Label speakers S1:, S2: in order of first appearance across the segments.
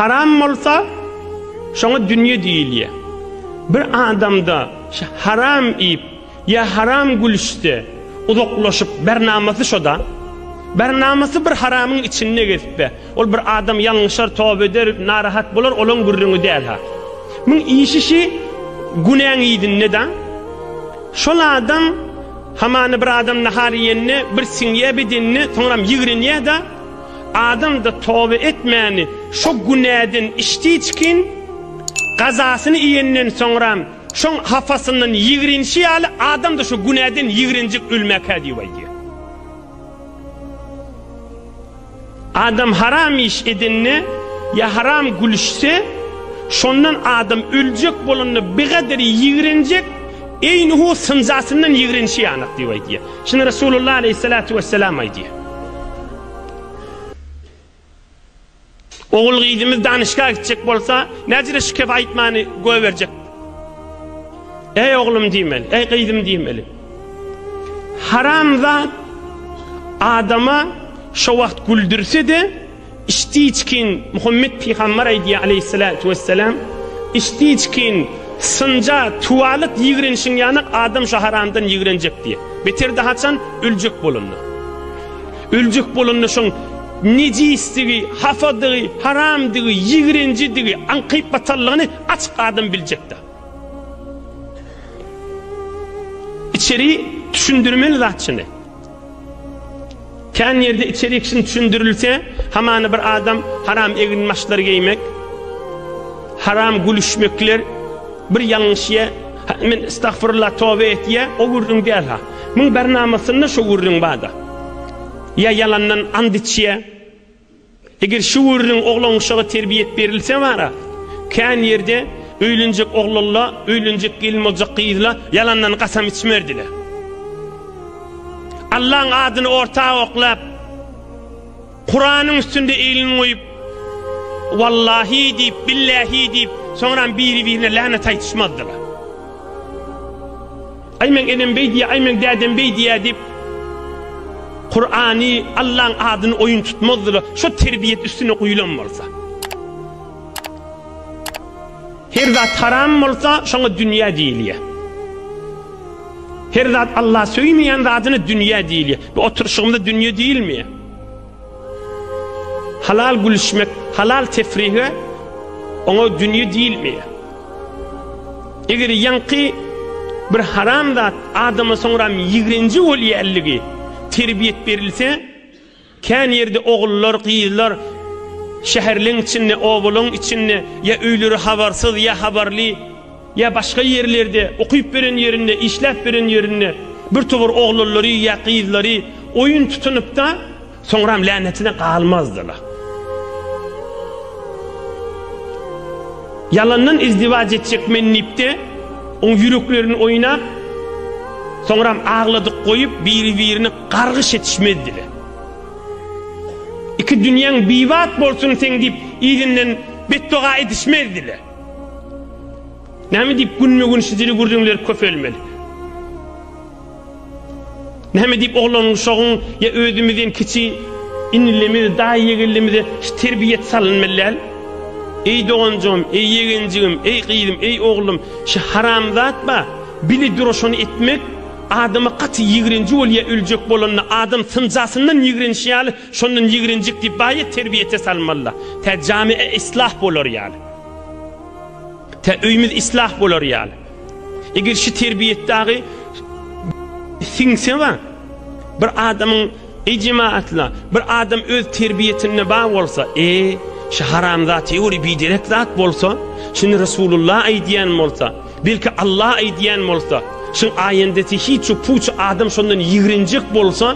S1: Haram bolsa şoňa dünýe diýilýär. Bir adamda haram iýip Ýa haram gülüşse, uzaklaşyp, bernamasy şo-da. Bernamasy bir haramyň içinde gezse, ol bir adam ýalňyşar, toba eder, narahat bolar, olaň gürrüňi däl-ha. Muň işi şi günäň yzynda-da. Şol adam hamana bir adam nahar iýende, bir siňýä bedenine, soňram ýigrenýä-de, adam-da toba etmäni, şo günäden içdiçkin, gazasyny iýenden soňram, Şoň hapasyndan ýigrenişi ýaly adam-da şu günäden ýigrenjek ölmäkä diýip aýdýar. Adam haram iş edende ýa haram gülüşse, şondan adam öljek bolanda bigader ýigrenjek, eýnuhu synjasyndan ýigrenişi ýanyk diýip aýdýar. Şuny Resulullah aleýhissalatu wessalam aýdýar. Ogul-gyzymyz danyşga gitjek bolsa, näcire şikes aýtmany goýberjek? Eý oglum diýmeli, eý gyzym diýmeli. Haramzat adama şo wagt güldürse-de, içdi içkin Muhammet pygamber aýdýar aleyhissalatu wesselam, içdi içkin synja tuwalyk ýigrenişiň ýanyk adam şu haramdan ýigrenjek diýýär. Beter-de haçan öljek bolanda. Öljek bolanda şoň nejisdigi, hapadygy, haramdygy, ýigrenjidigi, aňkyp-batallygyny açyk adam biljekdä. Içeri düşündirmeli zat şuny. Kän ýerde içeri kişini düşündirilse, hamana bir adam haram egin maşlar geýmek, haram gülüşmekler, bir ýalňyşýa Hä men estagfurullah tobe etýä o gürrüň däl ha. Muň bir namasynda şo gürrüň barda. Ýa ýalandan ant içýä. Eger şu gürrüň oglan uşaga terbiýet berilse bara. Kän ýerde öýlenjek oglanla öýlenjek gelin boljak gyzla ýalandan gasam içmerdile. Allaň adyny orta oklap. Kuranyň üstünde elini goýup, Wallahi diýip, Billahi diýip, soňram biri-birine länet aýtyşmazdylar. Aý meň enem beý diýýär, aý meň dädem beý diýýär diýip, Kurany, Allaň adyny oýun tutmazdylar, şo terbiýet üstüne guýlan bolsa. Her zat haram bolsa, şoňa dünýä diýilýär. Her zat Allah söýmeýän zadyna dünýä diýilýär. Bu oturyşygymyza dünýe diýilmeýär. Halal gülüşmek, halal tefrihe oňa dünýe diýilmeýär. Eger ýaňky bir haram zat adama soňra ýigrenji bolýanlygy terbiýet berilse, kän ýerde ogullar, gyzlar şäherleň içinde, obalaň içinde ýa öýleri habarsyz, ýa habarly Ýa başga ýerlerde, okyp beren ýerinde, işläp beren ýerinde bir towar oglanlary ýa gyzlary oýun tutunypda, soňram länetine galmazdyla. Ýalandan izdiwaç etjek men diýipde, oň ýüreklerini oýnap, soňram agladyk goýup, biri-birini gargyş etişmezdile. Iki dünýäň bibat bolsun seň diýip, yzyndan betdoga edişmezdile. Näme diýip günme-gün şu dili gürrüňler köpelmeli? Näme diýip oglan uşagyň ýa özümizden kiçi inilimiz, daýy-ýegenlimize şu terbiýet salynmaly däl? Eý doganjygym, eý ýegenjigim, eý gyzym, eý oglum, şu haramzat ba, bili duraşany etmek adama gaty ýigrenji bolýar öljek bolanda adam synjasyndan ýigrenişi ýaly Şondan ýigrenjik diýip baýa terbiýete salmalyda. Tä jamiä islah bolar ýaly. Tä öýümiz islah bolar ýaly. Eger şu terbiýet dagy siňse we bir adamyň eý jemaatla, bir adam öz terbiýetinde bar bolsa, e, şu haramzat ýuri biderek zat bolsa, şuny Resulullah aýdýan bolsa, belki Allah aýdýan bolsa, şuň aýendesi hiç puç adam şondan ýigrenjik bolsa,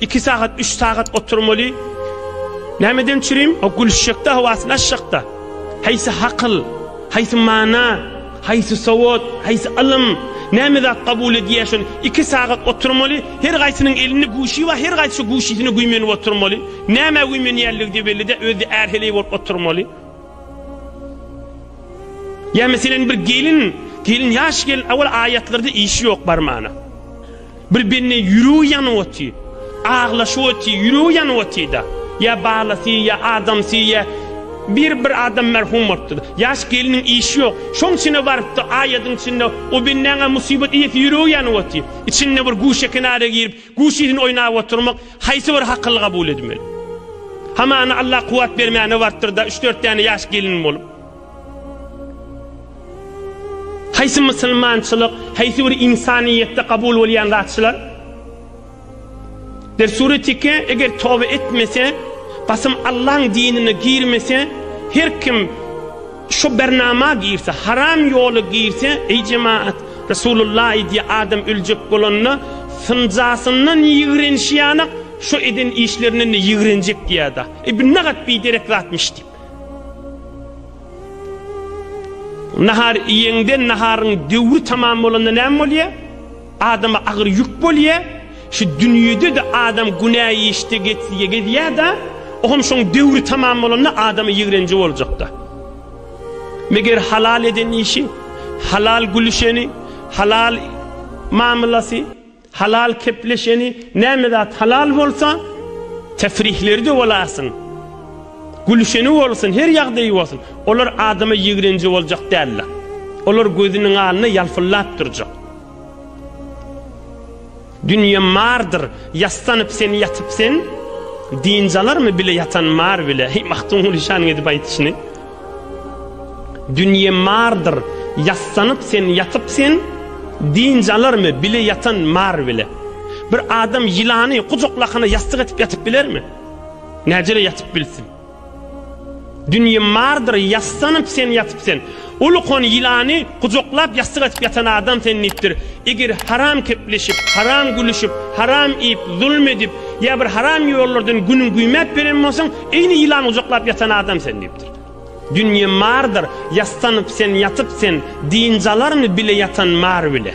S1: Iki sagat üç sagat oturmaly. Nämeden çürim? O gülüşjekde hawasyny açjakda. Haýsy hakyl, haýsy mana, haýsy sowat, haýsy ylym, näme zat kabul edýär şony iki sagat oturmaly. Her gaýsynyň elinde guşy bar, her gaýsy şu guşysyny güýmenip oturmaly. Nämä güýmenýänligi-de belli-de, özi ärheleý bolup oturmaly. Ýa meselem bir gelin, gelin ýaş gelin awal aýatlarda işi ýok barmana. Bir bende ýüregi ýanyp oty. Aglaşyp oty, ýüregi ýanyp otyda. Ýa balasy, ýa adamsy, ýa bir bir adam merhum bolupdyr. Ýaş gelniň işi ýok. Şoň içine barypdy, aýadyň içinde o bendäňä musibat iýesi ýüregi ýanyp oty. Içinde bir guşa kenara girip, guşyny oýnap oturmak haýsy bir hakylly kabul edmeli? Hamana Allah kuwat bermäne barypdyr-da, üç-dört däne ýaş gelin bolup. Haýsy musulmançylyk, haýsy bir ynsanyýetde kabul bolýan zatçylar? Der sure teke eger toba etmese, gasym Allaň dinine girmese, her kim şu bernama girse, haram ýola girse, eý jemaat, Resulullah diýe adam öljek bolanda, synjasyndan ýigrenşýanak, şu eden işlerinden ýigrenjek diýýada. Eý bu nagat biderek zatmyş diýip. Nahar iýeňde, naharyň döwri tamam bolanda näme bolýar? Adama agyr ýük bolýar. Şu dünýede-de adam günä işde getsige gezýär-de, o hem şoň döwri tamam bolanda adama ýigrenji boljak-da. Meger halal eden işi, halal gülüşeni, halal mamlasy. Halal kepleşeni, näme zat halal bolsa, tefrihleri-de bolasyn, gülüşeni bolsun, her ýagdaýy bolsun, olar adama ýigrenji boljak däldir. Olar gözüniň alny ýalpyldap durjak. Dünýe mardyr, ýassanyp sen ýatyp sen, dynç alarmy bile ýatan mar bile. Heý, Magtymguly şanyň edip aýdyşyny. Dünýe mardyr, ýassanyp sen ýatyp sen, dynç alarmy bile ýatan mar bile? Bir adam ýylany gujaklakana ýassyk etip ýatyp bilermi? Näcele ýatyp bilsin? Dünýe mardyr, ýassanyp sen ýatyp sen, ulukon ýylany gujaklap ýassyk etip ýatan adam sen diýipdir. Eger haram kepleşip, haram gülüşip, haram iýip, zulum edip ýa bir haram ýollardan günüň güýmäp ýören bolsaň, Eýni ýylan gujaklap ýatan adam sen diýipdir. Dünýe mardyr, ýassanyp sen ýatyp sen, dynç alarmy bile ýatan mar bile.